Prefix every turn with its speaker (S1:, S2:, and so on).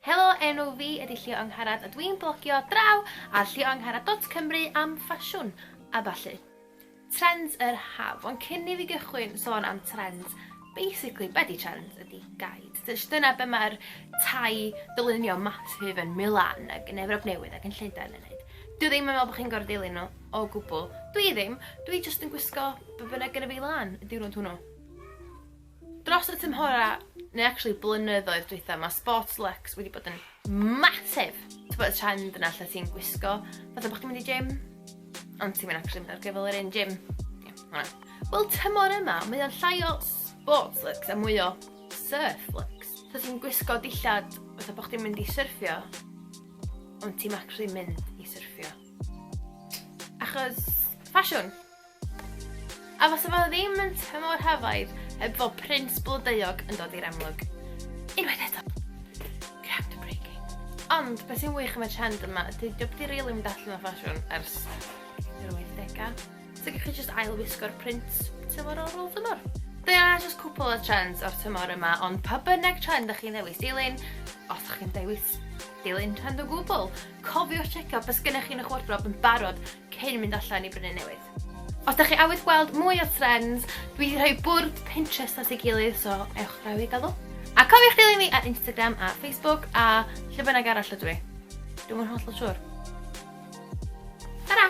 S1: Helo, enw fi ydy Llio Angharad a dwi'n blogio draw ar llioangharad.cymru am ffasiwn a ballu. Trends yr haf, ond cyn i fi gychwyn sôn am trends, basically, be di trends ydy guide. Dyna be mae'r tai dylunio massive yn Milan ac yn Efrop Newydd ac yn Llundain yn neud. Dwi ddim yn meddwl bod chi'n gorfod dilyn nhw o gwbl. Dwi ddim, dwi jyst yn gwisgo be bynnag gyda fi lan y diwrnod hwnnw. Dros y tymhorau, neu actually blynyddoedd dwytha, mae sports lux wedi bod yn massive. Ti'n bod y trend yna lle ti'n gwisgo, fatha bod chdi'n mynd i gym, ond ti'n mynd actually mynd ar gyfel yr un gym. Wel, tymor yma, mae o'n llai o sports lux a mwy o surf lux. So ti'n gwisgo dillad fatha bod chdi'n mynd i surfio, ond ti'n actually mynd i surfio. Achos, ffasiwn. A fase fo ddim yn tymor hafaidd heb fo prins blodeuog yn dod i'r amlwg. Unwaith eto! Groundbreaking. Ond be sy'n wych am y trend yma ydy dyw o 'eb 'di rili mynd allan o ffasiwn ers yr wythdegau. So gewch chi jyst ail wisgo'r print tymor ar ôl tymor. Dyna jyst cwpwl o trends o'r tymor yma ond pa bynnag trend dych chi'n ddewis dilyn, os dych chi'n dewis dilyn trend o gwbwl, cofiwch tsecio be sgennych chi yn eich wardrob yn barod cyn mynd allan i brynu newydd. Os dach chi awydd gweld mwy o trends, dwi 'di rhoi bwrdd Pinterest at ei gilydd so ewch draw i gael nhw. A cofiwch dilyn fi ar Instagram a Facebook a lle bynnag arall ydw i. Dwi'm yn hollol siŵr. Tara!